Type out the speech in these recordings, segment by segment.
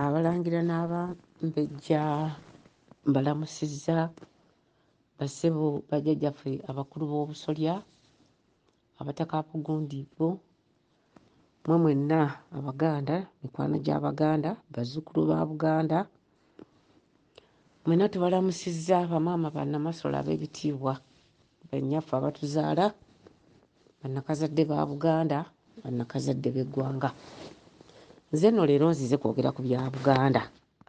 abalangira n'abambejja mbalamusizza basebo bajjajjaffe abakulu b'obusolya abataka abagundi bo mwe mwenna abaganda mikwano gy'abaganda bazzukulu ba buganda Mwena tubalamusizza bamaama banamasole ab'ebitiibwa, bannyaffe abatuzaala, bannakazadde ba Buganda, bannakazadde b'eggwanga. Nze nno leero nzize kwogera ku bya Buganda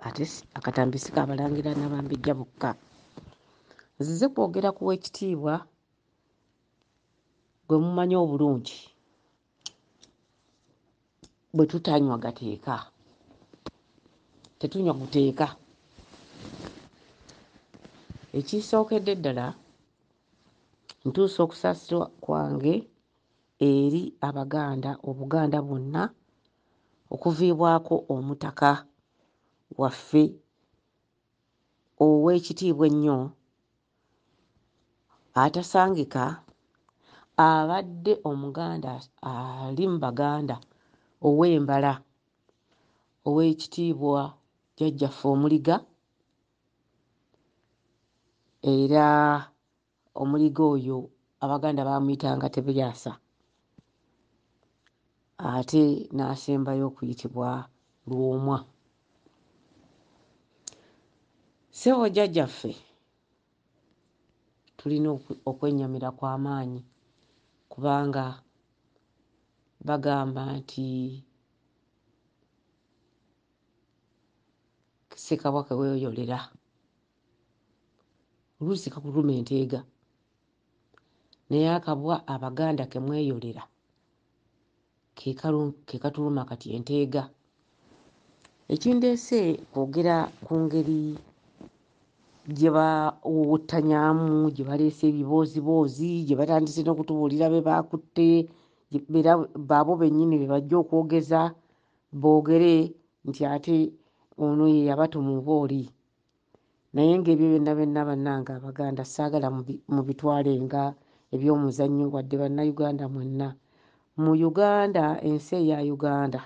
ate akatambi si ka balangira na bambejja bokka. Nzize kwogera ku w'ekitiibwa gwe mumanyi obulungi bwe tutanywa gateeka tetunywa guteeka ekisookedde ddala ntuusa okusaasirwa kwange eri abaganda obuganda bwonna okuviibwako omutaka waffe ow'ekitiibwa ennyo atasangika abadde omuganda ali mu baganda ow'embala ow'ekitiibwa jjajjaffe omuliga era omuliga oyo abaganda baamuyitanga tebyasa ate n'asembayo okuyitibwa Lwomwa. Ssebo Jjajjaffe tulina okwennyamira kwa maanyi kubanga bagamba nti ssekabwa ke weeyolera oluusi kakuluma enteega naye akabwa abaganda ke mweyolera ke katuluma kati enteega. Ekindeese kwogera ku ngeri gye bawuwuttanyamu, gye baleese ebibooziboozi, gye batandise n'okutubuulira be baakutte, era baabo bennyini be bajja okwogeza boogere nti ate ono ye yabatuma oba oli. naye ngaebyo byonna byonna bannange abaganda saagala mubitwale nga ebyomuzannyo wadde bannauganda mwenna mu uganda ensi eya uganda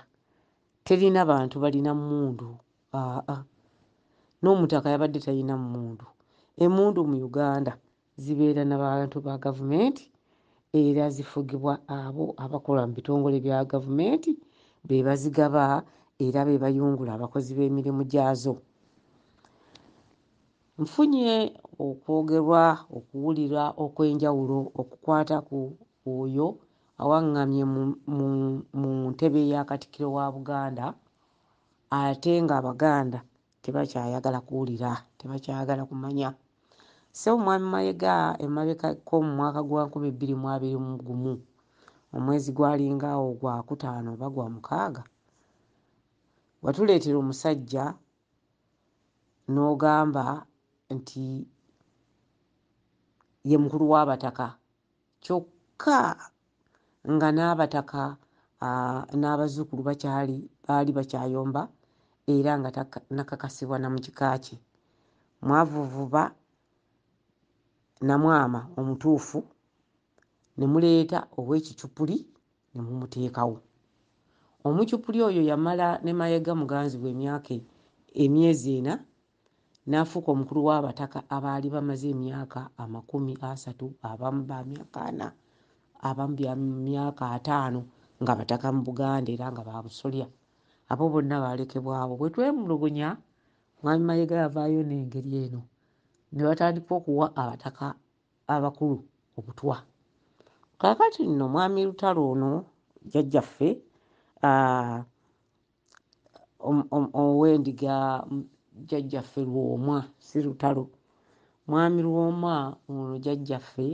terina bantu balina mundu aa n'omutaka yabadde talina mundu emundu mu uganda zibeera na bantu ba gavumenti era zifugibwa abo abakola mu bitongole bya gavumenti be bazigaba era be bayungula abakozi b'emirimu gyazo nfunye okwogerwa okuwulira okw'enjawulo okukwata ku oyo awaŋŋamye mu ntebe ya katikiro wa buganda ate ng'abaganda tebakyayagala kuwulira tebakyayagala kumanya ssebo mwami mayega emabekako mu mwaka gwa 2021 omwezi gwalingaawo gwa kutaano oba gwa mukaaga watuleetera omusajja n'ogamba nti ye mukulu w'abataka kyokka nga n'abataka n'abazzukulu bakyali baali bakyayomba era nga nakakasibwa na mu kika kye mwavuvuba namwama omutuufu ne muleeta ow'ekicupuli ne mumuteekawo omucupuli oyo yamala ne mayega muganzi we emyaka emyezi ena n'afuuka omukulu w'abataka abaali bamaze emyaka amakumi asatu, abamu ba myaka ana, abamu bya myaka ataano nga bataka mu Buganda era nga ba busolya. Abo bonna baalekebwawo. Bwe twemulugunya, Mwami Mayega yavaayo n'engeri eno ne batandika okuwa abataka abakulu obutwa. Kaakati nno Mwami Lutalo ono jjajjaffe ow'endiga jjajjaffe lwomwa si lutalo mwami lwomwa ono jjajjaffe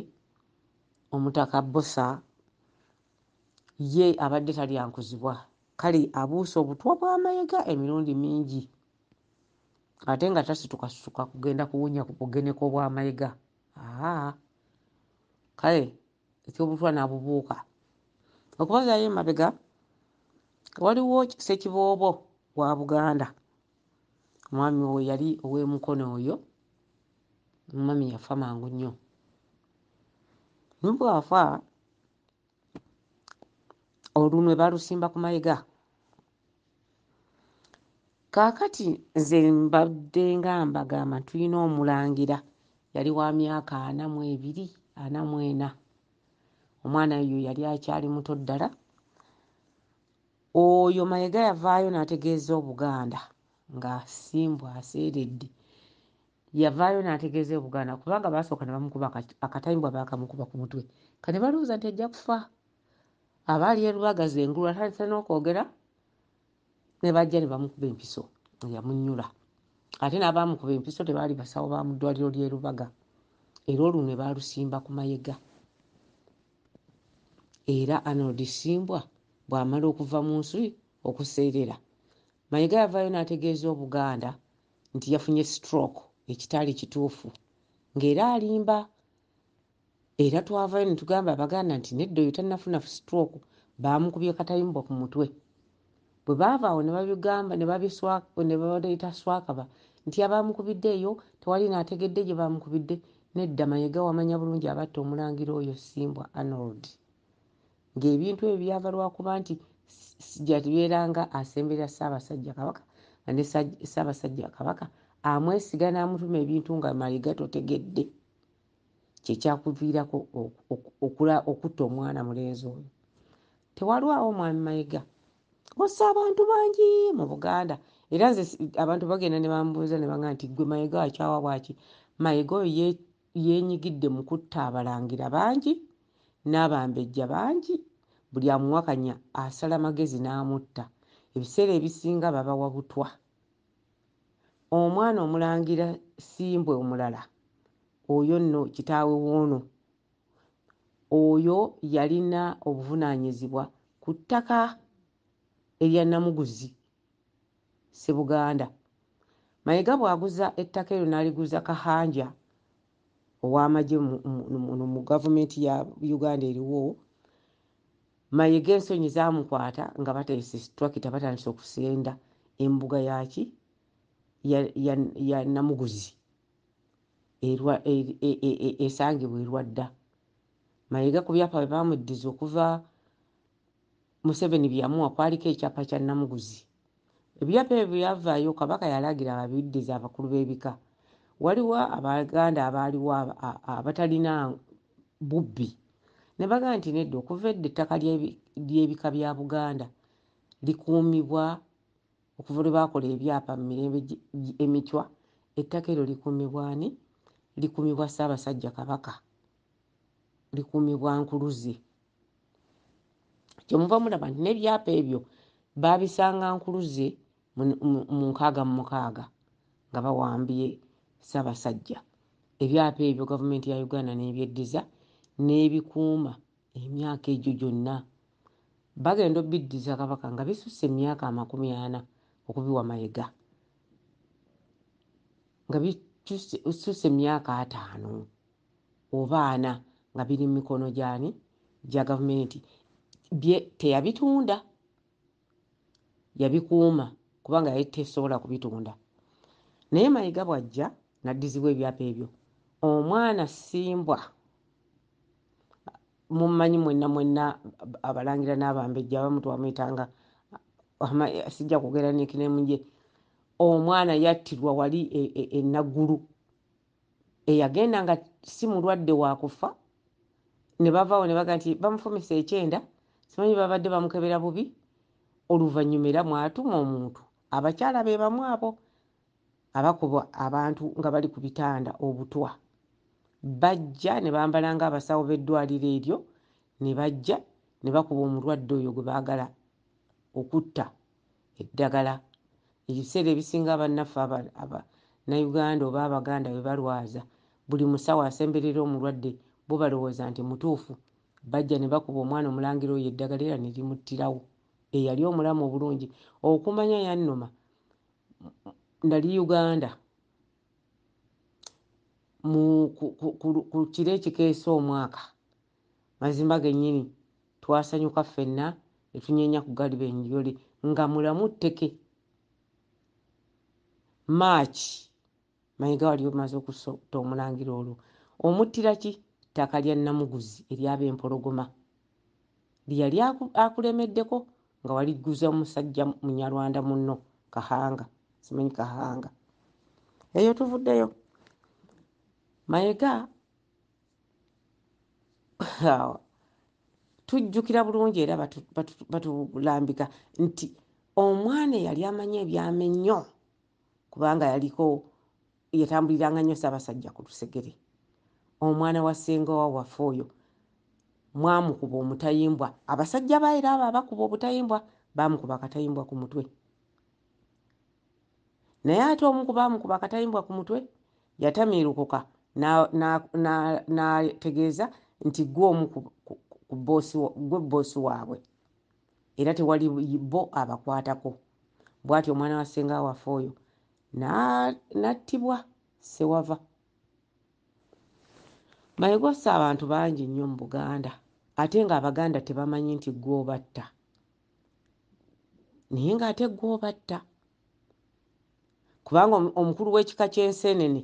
omutaka bosa ye abadde talyankuzibwa kale abuusa obutwa bw'amayega emirundi mingi ate nga tasitukasituka kugenda kuwunya ku bugeneko bw'amayega aa kale eky'obutwa n'abubuuka okubazaayo emabega waliwo ssekiboobo wa buganda omwami oyo yali ow'emukono oyo omwami yafa mangu nnyo nubwafa olunwe balusimba ku mayega kaakati nze mbadde nga mbagamba tulina omulangira yali wa myaka ana mu ebiri ana mu ena omwana yo yali akyali muto ddala oyo mayega yavaayo n'ategeeza obuganda nga simbu aseeredde yavaayo n'ategeeza obuganda kubanga baasooka ne bamukuba akatayimbwa baakamukuba ku mutwe kati balowooza nti ajja kufa abaali e lubaga ze engulu atandise n'okwogera ne bajja ne bamukuba empiso yamunyula ate n'abaamukuba empiso tebaali basawo ba mu ddwaliro ly'e lubaga era olwo ne baalusimba ku mayega era arnold simbwa bw'amala okuva mu nsi okuseerera mayega yavaayo n'ategeeza obuganda nti yafunye stroke ekitaali kituufu ng'era alimba Era twavayo netugamba abaganda nti nedda oyo tanafuna stroke bamukubye katayimbwa ku mutwe. Bwebaava awo nebabigamba nebaleeta swakaba nti abamukubidde eyo tewali nategedde gyebamukubidde nedda mayega wamanya bulungi abatta omulangira oyo simbwa Arnold nga ebintu ebyo byava lwakuba nti jatibeera nga asemberera Ssabasajja Kabaka nga ne Ssabasajja Kabaka amwesiga namutuma ebintu nga mayega totegedde. kyekyakuviirako okutta omwana mulenzi oyo tewalwawo mwami mayega ossa abantu bangi mu buganda era nze abantu bagenda nebambuuza nebanga nti gwe mayega akyawa bwaki mayega oyo yenyigidde mu kutta abalangira bangi n'abambejja bangi buli amuwakanya asala magezi n'amutta ebiseera ebisinga babawa butwa Omwana omulangira simbwa omulala oyo nno kitaawe woono. Oyo yalina obuvunanyizibwa ku ttaka erya Namuguzi Ssebuganda. Mayega bwaguza ettaka eryo naliguza Kahanja owamagye mu mu mu gavumenti ya Uganda eriwo Mayega ensonyi zaamukwata nga bateese situlakita batandise okusenda embuga yaaki ya, ya, ya Namuguzi erwa, e, e, e, e, esangibwa erwadda. Mayega ku byapa bye baamuddiza okuva Museveni bye yamuwa kwaliko ekyapa kya Namuguzi. Ebyapa ebyo bwe yavaayo Kabaka yalagira babiddize abakulu b'ebika. Waliwo Abaganda abaaliwo abatalina bubbi ne bagamba nti nedda okuva edda ettaka ly'ebika bya Buganda likuumibwa okuva lwe baakola ebyapa mu mirembe emicwa ettaka eryo likuumibwa ani likuumibwa Ssaabasajja Kabaka likuumibwa Nkuluze kyemuva mulaba nti n'ebyapa ebyo baabisanga Nkuluze mu nkaaga mu mukaaga nga bawambye Ssaabasajja. Ebyapa ebyo gavumenti ya Uganda n'ebyeddiza n'ebikuuma emyaka egyo gyonna. Bagenda obbiddiza Kabaka nga bisusse emyaka amakumi ana okubiwa Mayega nga bisusse emyaka ataano oba ana nga biri mu mikono gy'ani gya gavumenti bye teyabitunda yabikuuma kubanga yali tesobola kubitunda naye mayiga bwajja naddizibwa ebyapa ebyo omwana simbwa mummanyi mwenna mwenna abalangira n'abambejja abamu twamuyitanga sijja kwogera nekinemu gye omwana yattirwa wali enaggulu e, e, eyagenda nga si mulwadde wa kufa ne bavaawo ne baga nti bamufumise ekyenda simanyi babadde bamukebera bubi oluvannyuma era mwatuma omuntu abakyala be bamu abo abakuba abantu nga bali ku bitanda obutwa bajja ne bambala ng'abasawo b'eddwaliro eryo ne bajja ne bakuba omulwadde oyo gwe baagala okutta eddagala ebiseera ebisinga abannaffe abannayuganda oba abaganda bwe balwaza buli musawo asemberera omulwadde bo balowooza nti mutuufu bajja ne bakuba omwana omulangira oyo eddagala era ne limuttirawo eyali omulamu obulungi okumanya yannuma nali uganda ku kiro ekikeesa omwaka Mazima gennyini twasanyuka ffenna ne tunyeenya ku galibenjjo lye nga mulamu tteke. March, Mayiga wali omaze okusota Omulangira olwo omuttira ki ttaka lya Namuguzi erya Bempologoma lye yali akulemeddeko nga waligguza musajja Munyarwanda munno Kahanga, simanyi Kahanga. Eyo tuvuddeyo. Mayega. tujjukira bulungi era batulambika nti omwana eyali amanyi ebyama ennyo kubanga yaliko yatambuliranga nnyo saabasajja ku lusegere omwana wa ssenga wa wafe oyo mwamukuba omutayimbwa abasajja ba era abo abakuba obutayimbwa baamukuba akatayimbwa ku mutwe naye ate omu ku baamukuba akatayimbwa ku mutwe Yatamiirukuka n'ategeeza na, na, nti ggwe omu ku, ku, ku boss, ggwe bboosi waabwe era tewali bo abakwatako. Bw'atyo omwana wa ssenga waffe oyo n'attibwa na, Ssewava. Mayego asse abantu bangi nnyo mu Buganda ate ng'Abaganda tebamanyi nti ggwe obatta naye ng'ate ggwe obatta. kubanga omukulu w'ekika ky'enseenene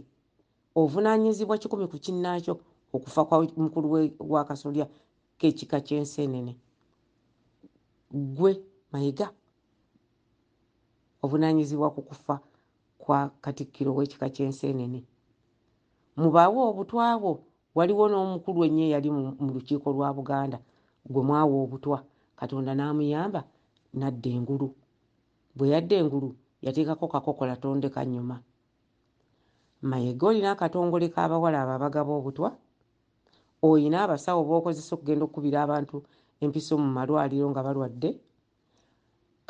ovunaanyizibwa kikumi ku kinnaakyo okufa kwa mukulu w'akasolya k'ekika ky'enseenene ggwe mayiga ovunaanyizibwa ku kufa kwa katikkiro w'ekika ky'enseenene mubaawo obutwa bwo waliwo n'omukulu ennyo eyali mu lukiiko lwa buganda gwe mwawa obutwa katonda n'amuyamba n'adda engulu Bwe yadda engulu yateekako kakokola tondeka nnyuma. Mayega olina akatongole k'abawala abo abagaba obutwa? Olina abasawo b'okozesa okugenda okukubira abantu empiso mu malwaliro nga balwadde?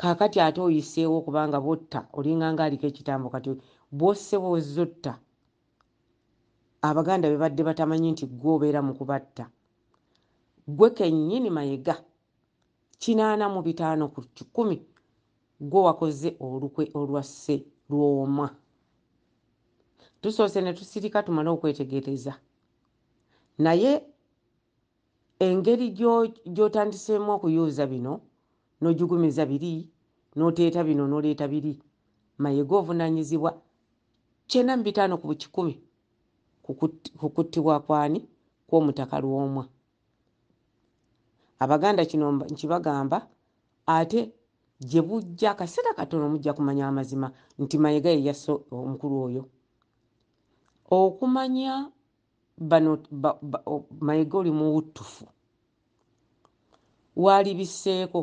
Kaakati ate oyiseewo kubanga bw'otta olinga ng'aliko ekitambo kati bw'osse bw'ozze otta Abaganda be badde batamanyi nti ggwe obeera mu kubatta. Ggwe kennyini Mayega kinaana mu bitaano ku kikumi gwe wakoze olukwe olwasse lwomwa tusoose ne tusirika tumale okwetegereza naye engeri gyotandiseemu okuyuuza bino n'ojugumiza biri n'oteeta bino n'oleeta biri mayega ovunanyizibwa kyena mu bitaano ku bukikumi ku kuttibwa kwani kw'omutaka lwomwa abaganda kino nkibagamba ate gye bujja akaseera katono mujja kumanya amazima nti mayega ye yasse omukulu oyo okumanya bano mayega oli muwuttufu waalibiseeko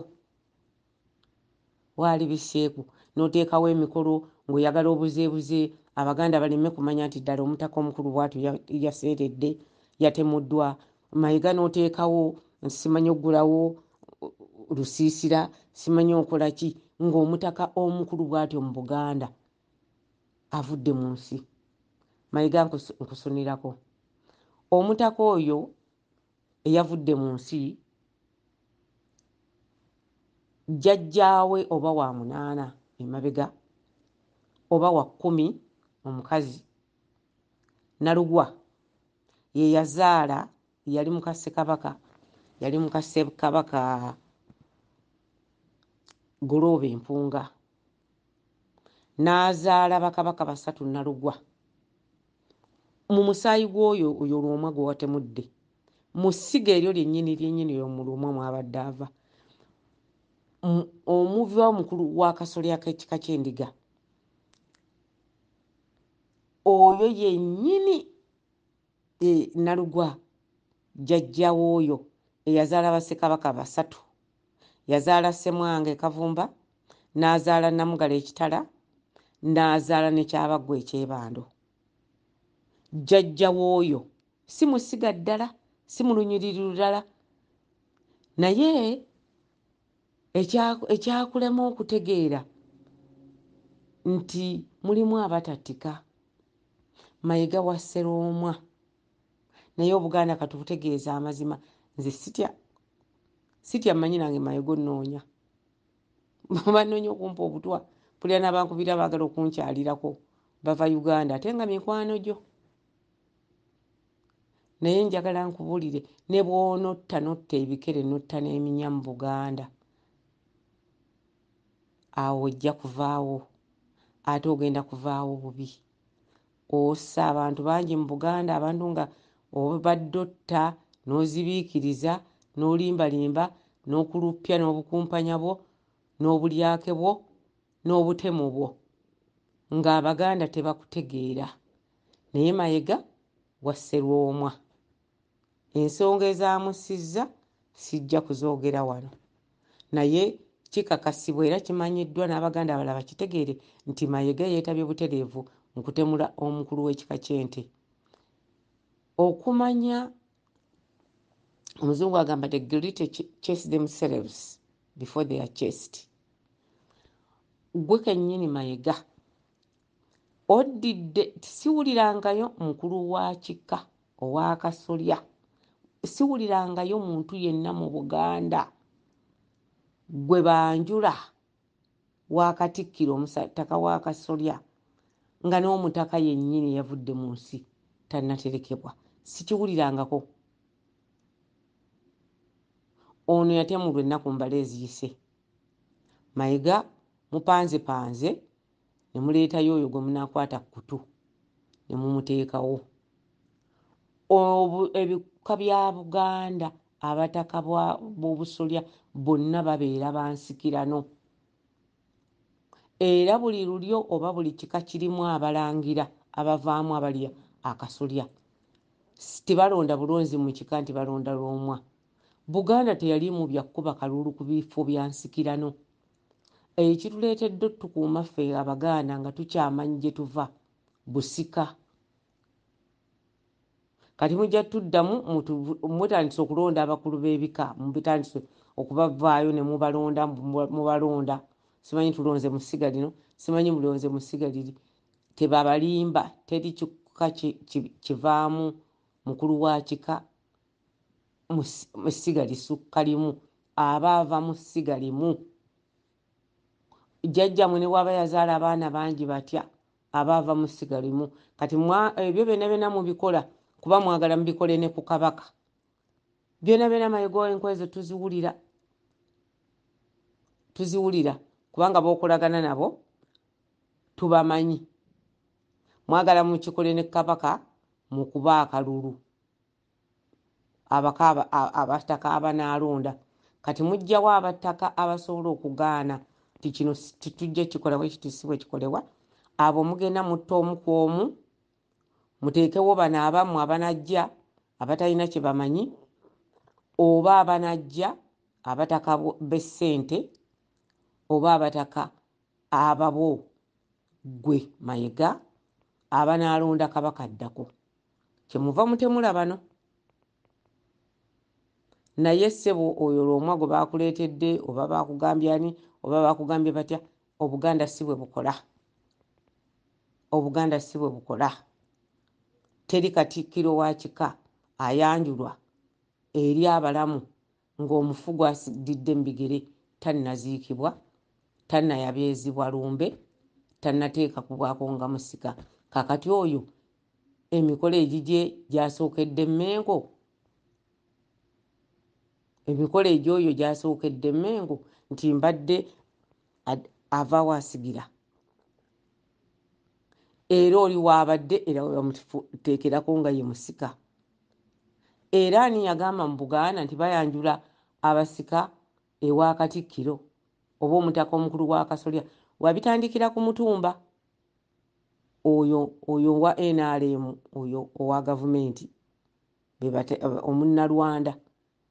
Waali bisseeko n'oteekawo emikolo ng'oyagala obuzeebuze Abaganda baleme kumanya nti ddala Omutaka Omukulu bw'atyo yaseeredde, yatemuddwa Mayega n'oteekawo nti simanyi okuggulawo lusiisira, simanyi okola ki ng'Omutaka Omukulu bw'atyo mu Buganda avudde mu nsi. Mayega nkusunirako. Omutaka oyo eyavudde mu nsi, jjajjaawe oba wa munaana emabega oba wa kkumi omukazi Nalugwa ye yazaala yali muka Ssekabaka yali muka Ssebkabaka Golooba Empunga. n'azaala bakabaka basatu nnalugwa mu musaayi gw'oyo oyo lwomwa gwe watemudde mu ssiga eryo lyennyini lyennyini oyo mu lwomwa mwabadde ava omuva omukulu w'akasolya k'ekika ky'endiga oyo yennyini E, Nalugwa jjajja w'oyo eyazaala Bassekabaka basatu. Yazaala Ssemwanga e Kavumba, n'azaala Nnamugala e Kitala, n'azaala ne Kyabaggwa e Kyebando. Jjajja w'oyo si musiga ddala, si mu lunyiriri lulala, naye Ekyakulema okutegeera nti mulimu abatattika, Mayega wa Sseroomwa. Naye Obuganda katubutegeeze amazima. Nze sitya sitya mmanyi nange Mayega onnoonya. Bannoonya okumpa obutwa, mpulira n'abankubira baagala okunkyalirako bava Uganda ate nga mikwano gyo. naye njagala nkubulire ne bwonotta notta ebikere notta n'eminya mu buganda awo ojja kuvaawo ate ogenda kuvaawo bubi ossa abantu bangi mu buganda abantu nga obadde otta n'ozibiikiriza n'olimbalimba n'okuluppya n'obukumpanya bwo n'obulyake bwo n'obutemu bwo ng'abaganda tebakutegeera Naye Mayega wa Sserwomwa, ensonga ezaamussizza sijja kuzoogera wano naye kikakasibwa era kimanyiddwa n'Abaganda abalala bakitegeere nti Mayega yeetabye butereevu mu kutemula omukulu w'ekika ky'Ente. Okumanya Omuzungu agamba the guilty chase themselves before they are chased. Ggwe kennyini Mayega Oddidde nti siwulirangayo mukulu wa kika ow'akasolya, siwulirangayo muntu yenna mu Buganda gwe banjula wa Katikkiro Omutaka w'akasolya nga n'Omutaka yennyini yavudde mu nsi tannaterekebwa. Sikiwulirangako. Ono yatemulwa ennaku mbale eziyise. Mayiga mupanzepanze ne muleetayo oyo gwe munaakwata ku kutu ne mumuteekawo ebika bya buganda abataka b'obusolya bonna babeera bansikirano era buli lulyo oba buli kika kirimu abalangira abavaamu abalya akasolya tebalonda bulonzi mu kika nti balonda lwomwa buganda teyalimu bya kukuba kalulu ku bifo bya nsikirano Eyo kituleetedde otukuuma ffe Abaganda nga tukyamanyi gye tuva busika. Kati mujja tuddamu mutandise okulonda abakulu b'ebika mubitandise okubavaayo ne mubalonda mubalonda simanyi tulonze mu ssiga lino simanyi mulonze mu ssiga liri tebabalimba teri kika kivaamu mukulu wa kika mu ssiga lisukka limu aba ava mu ssiga limu jjajjamwe ne bwaba yazaala abaana bangi batya aba ava mu ssiga limu kati ebyo byona byona mubikola kuba mwagala mubikole ne ku kabaka byona byona mayigo enkola ezo tuziwulira tuziwulira kubanga bokolagana nabo tubamanyi mwagala mukikole ne kabaka mukuba akalulu abaka abataka abanaalonda kati mujjawo abataka abasobola okugaana nti kino titujja kikola bwe kiti si bwe kikolewa abo mugenda mutta omu ku omu muteekewo bano abammwe abanajja abatalina kye bamanyi oba abanajja abataka b'essente oba abataka ababo ggwe mayega abanaalonda kabaka addako kyemuva mutemula bano naye ssebo oyo lwomwa gwe bakuleetedde oba bakugambye ani oba bakugambye batya obuganda si bwe bukola obuganda si bwe bukola teri katikkiro wa kika ayanjulwa eri abalamu ng'omufu gw'asididde mu bigere tannaziikibwa, tannayabyezibwa lumbe, tannateekakubwako nga musika. Kaakati oyo emikolo egigye gy'asookedde Mmengo? Emikolo egy'oyo gy'asookedde Mmengo nti mbadde avaawo asigira? Era oli w'abadde era we bamuteekerako nga ye musika. Era ani yagamba mu Buganda nti bayanjula abasika ewa Katikkiro oba omutaka omukulu w'akasolya? Wabitandikira ku Mutumba oyo oyo wa nrm oyo owa gavumenti omunnalwanda.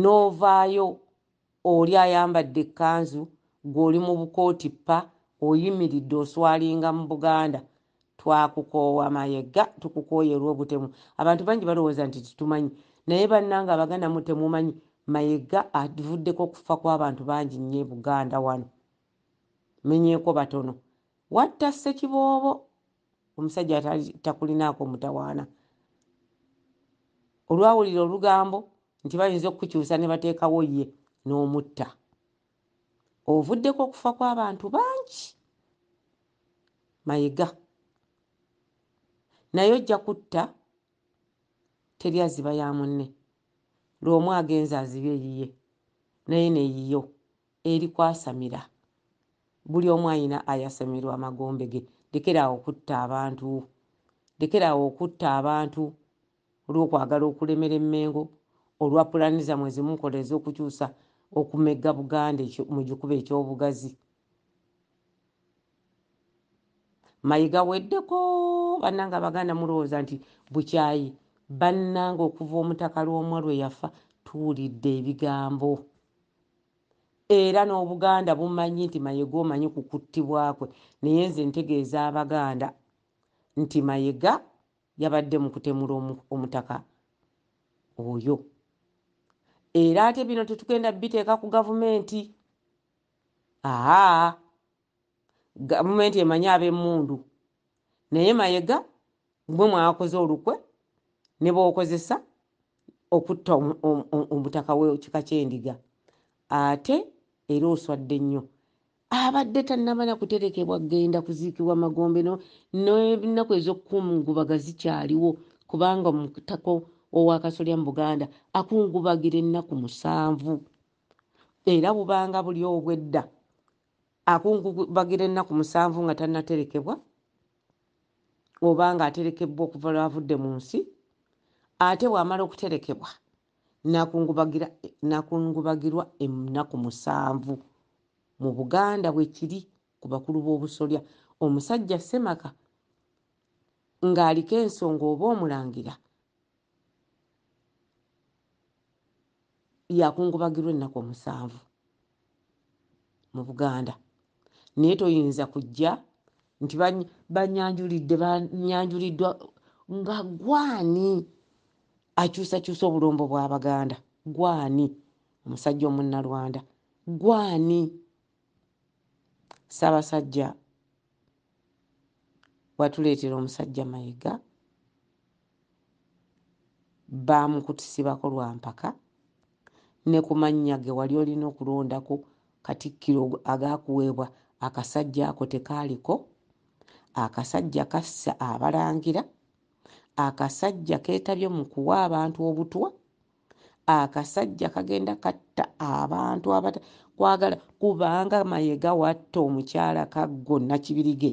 n'ovaayo oli ayambadde ekkanzu gwe oli mu bukooti ppa oyimiridde oswalinga mu buganda twakukoowa mayega tukukooye olw'obutemu abantu bangi balowooza nti tetumanyi naye bannanga abaganda mu temumanyi mayega avuddeko okufa kw'abantu bangi nnyo e buganda wano menyeeko batono watta ssekiboobo omusajja takulinaako mutawaana olwawulira olugambo nti bayinza okukukyusa ne bateekawo ye n'omutta ovuddeko okufa kw'abantu bangi mayiga naye ojja kutta teri aziba ya munne lwomu agenza aziba eyiye naye neyiyo eri kwasamira bulyomu ayina ayasamirwa amagombe ge lekera awo okutta abantu lekera awo okutta abantu olwokwagala okulemera emengo olwa pulani zamwe zimukola ezokukyusa okumegga buganda mugikuba ekyobugazi mayiga weddeko bananga abaganda mulowooza nti bukyayi bananga okuva omutaka lwomwa lweyafa tuwulidde ebigambo era n'obuganda bumanyi nti mayega omanyi ku kuttibwa kwe naye nze ntegeeza abaganda nti mayega yabadde mu kutemula omutaka oyo era ate bino tetugenda biteeka ku gavumenti aa gavumenti emanyi ab'emmundu naye mayega mwe mwakoze olukwe nebwokozesa okutta omutaka wekika kyendiga ate era oswadde nnyo abadde tanamala kuterekebwa genda kuziikibwa magombe nenaku ezokukungubaga zikyaliwo kubanga omutaka owakasolya mu buganda akungubagira ennaku musanvu era bubanga buli obwedda akungubagira ennaku musanvu nga tannaterekebwa oba ng'aterekebbwa okuva lw'avudde mu nsi, ate bw'amala okuterekebwa n'akungubagira n'akungubagirwa ennaku musanvu. Mu Buganda bwe kiri ku bakulu b'obusolya. Omusajja ssemaka ng'aliko ensonga oba omulangira yakungubagirwa ennaku omusanvu mu buganda naye toyinza kujja nti banyanjulidde banyanjuliddwa nga gwani akyusakyusa obulombo bwabaganda gwani omusajja omunnalwanda gwani ssabasajja watuleetera omusajja Mayiga baamukutusibako lwa mpaka ne ku mannya ge wali olina okulondako katikkiro agaakuweebwa akasajja ako tekaaliko akasajja kassa abalangira akasajja keetabye mu kuwa abantu obutwa akasajja kagenda katta abantu abata kwagala kubanga mayega watta omukyala kaggo nakibirige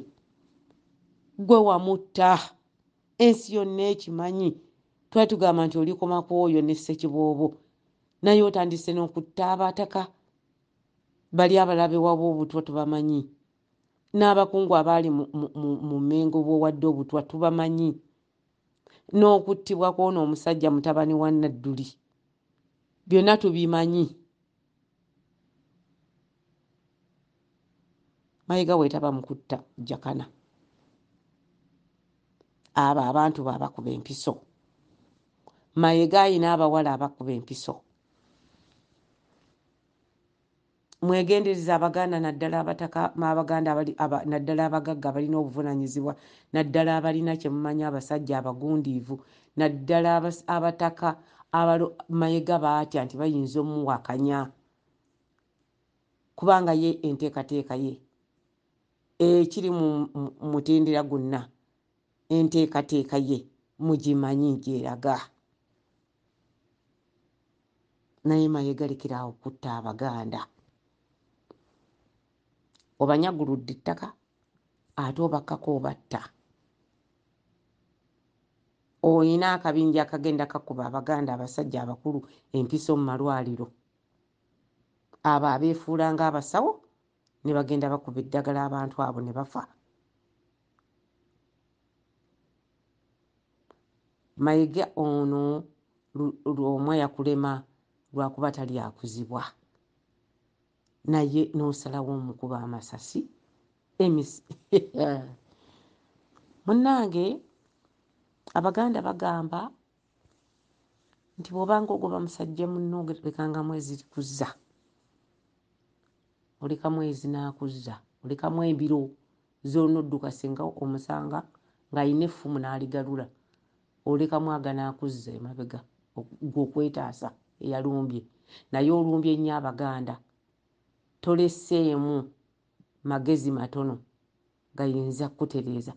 gwe wamutta ensi yonna ekimanyi twali tugamba nti olikoma ku oyo ne ssekiboobo naye otandise n'okutta abataka bali abalabe waba obutwa tubamanyi n'abakungu abaali mu mengo bwowadde obutwa tubamanyi n'okuttibwa kw'ono omusajja mutabani wa Nadduli byonna tubimanyi. Mayiga bwetaba mu kutta Jakana, abo abantu be abakuba empiso. Mayega alina abawala abakuba empiso. mwegendereze abaganda naddala abataka abaganda abali aba, naddala abagagga abalina obuvunanyizibwa naddala abalina kyemumanyi abasajja abagundiivu naddala abataka abalo mayega baatya nti bayinza omuwakanya kubanga ye enteekateeka ye ekiri mu mutendera gwonna enteekateeka ye mugimanyi gyeraga naye mayega lekera awo kutta abaganda obanyaguludde ettaka ate obakkako obatta olina akabinja akagenda kakuba abaganda abasajja abakulu empiso mu malwaliro abo abeefuula ng'abasawo ne bagenda bakuba eddagala abantu abo ne bafa Mayega ono lwomwa yakulema lwakuba talyakuzibwa naye nosalawo omukuba amasasi emis munange abaganda bagamba nti bwobanga ogoba musajja munno olekanga mwezi kuzza oleka mwezi nakuzza olekamu embiro Z'onodduka singa omusanga ng'alina effumu n'aligalula, olekamu agana akuzza emabega ggwe okwetaasa eyalumbye naye olumbye nnyo Abaganda toleseemu magezi matono gayinza kukutereeza.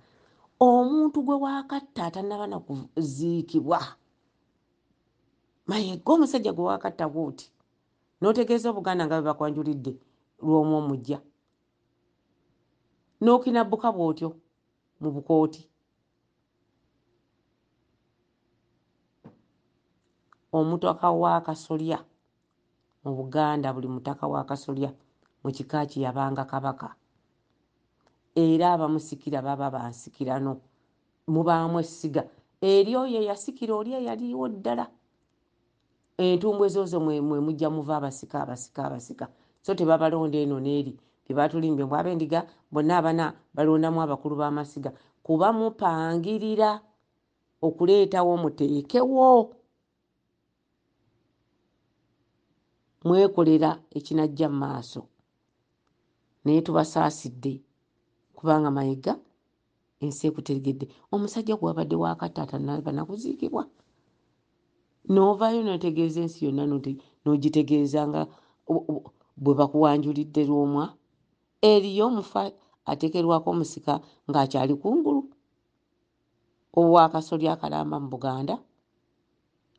Omuntu gwe waakatta atannaba na kuziikibwa, Mayega omusajja gwe waakatta bw'oti n'otegeeza Obuganda nga bwe bakwanjulidde lw'omu omuggya n'okinabbuka bw'otyo mu bukooti omutaka w'akasolya mu buganda buli mutaka w'akasolya mu kika kye yabanga kabaka era abamusikira baba bansikirano mubaamu essiga eri oyo eyasikira oli eyaliwo ddala entumbwe zozo mwemujja muva abasika abasika abasika so tebabalonda eno neeri byebatulimbye mbu abendiga bonna abana balondamu abakulu bamasiga kuba mupangirira okuleetawo muteekewo mwekolera ekinajja mu maaso naye tubasaasidde kubanga mayiga ensi ekutegedde omusajja gwewabadde wakataata nalaba nakuziikibwa novaayo notegeeza ensi yonna nogitegeeza nga bwe bakuwanjulidde lwomwa eriyo omufa atekerwako omusika ng'akyali kungulu owakasolya akalamba mu buganda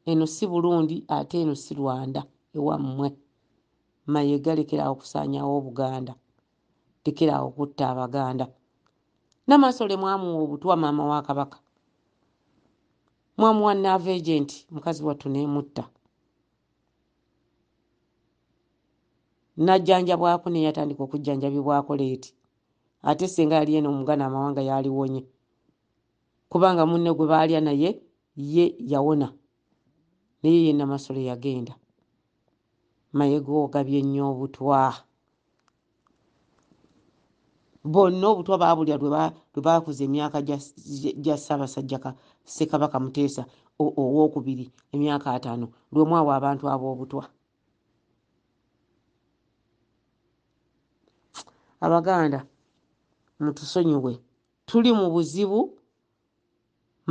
eno si burundi ate eno si rwanda ewammwe maye galekerawo okusaanyawo obuganda lekerawo okutta abaganda namasole mwamuwa obutwa maama wa kabaka mwamuwa naava agent mukazi wattu nemutta najjanjabwako neyatandika okujjanjabibwako leeti ate senga yali eno omugana amawanga yaliwonye kubanga munne gwe baalya naye ye yawona naye ye namasole yagenda Mayega ogabye nnyo obutwa. Bonna obutwa baabulya lwe baakuza emyaka gya Ssaabasajja Ssekabaka Muteesa owookubiri emyaka ataano lwe mwawa abantu ab'obutwa. Abaganda mutusonyiwe tuli mu buzibu.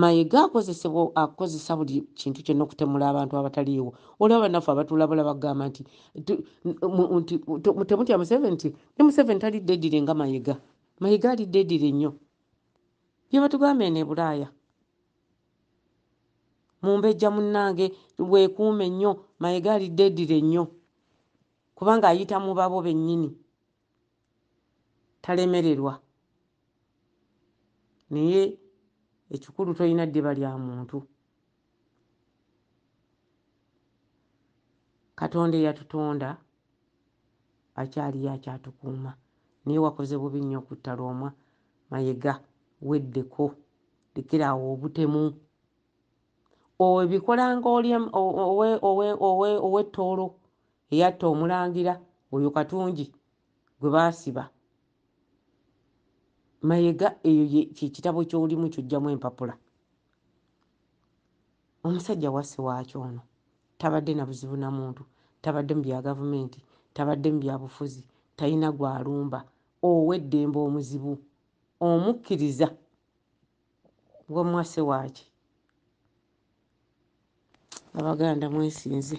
Mayega akozesebwa akozesa buli kintu kyonna okutemula abantu abataliiwo. Olaba banaffe abatulabula bagamba nti nti temutya Museveni nti ne Museveni tali dedire nga Mayega. Mayega ali dedire nnyo. Byebatugamba eno ebulaaya. Mumbejja munnange weekuume nnyo Mayega ali dedire nnyo. Kubanga ayita mu babo bennyini. talemererwa naye ekikulu tolina ddiba lya muntu katonda eyatutonda akyaliyo akyatukuuma naye wakoze bubi nnyo okutta lwomwa mayega weddeko lekera awo obutemu obikolanga oli owettoolo eyatta omulangira oyo katungi gwe baasiba mayega eyo kyekitabo kyolimu kyojjamu empapula omusajja wasi waaki ono tabadde na buzibu na muntu tabadde mu bya gavumenti tabadde mu byabufuzi talina gwalumba oweddembe omuzibu omukkiriza wamwase waaki abaganda mwesinze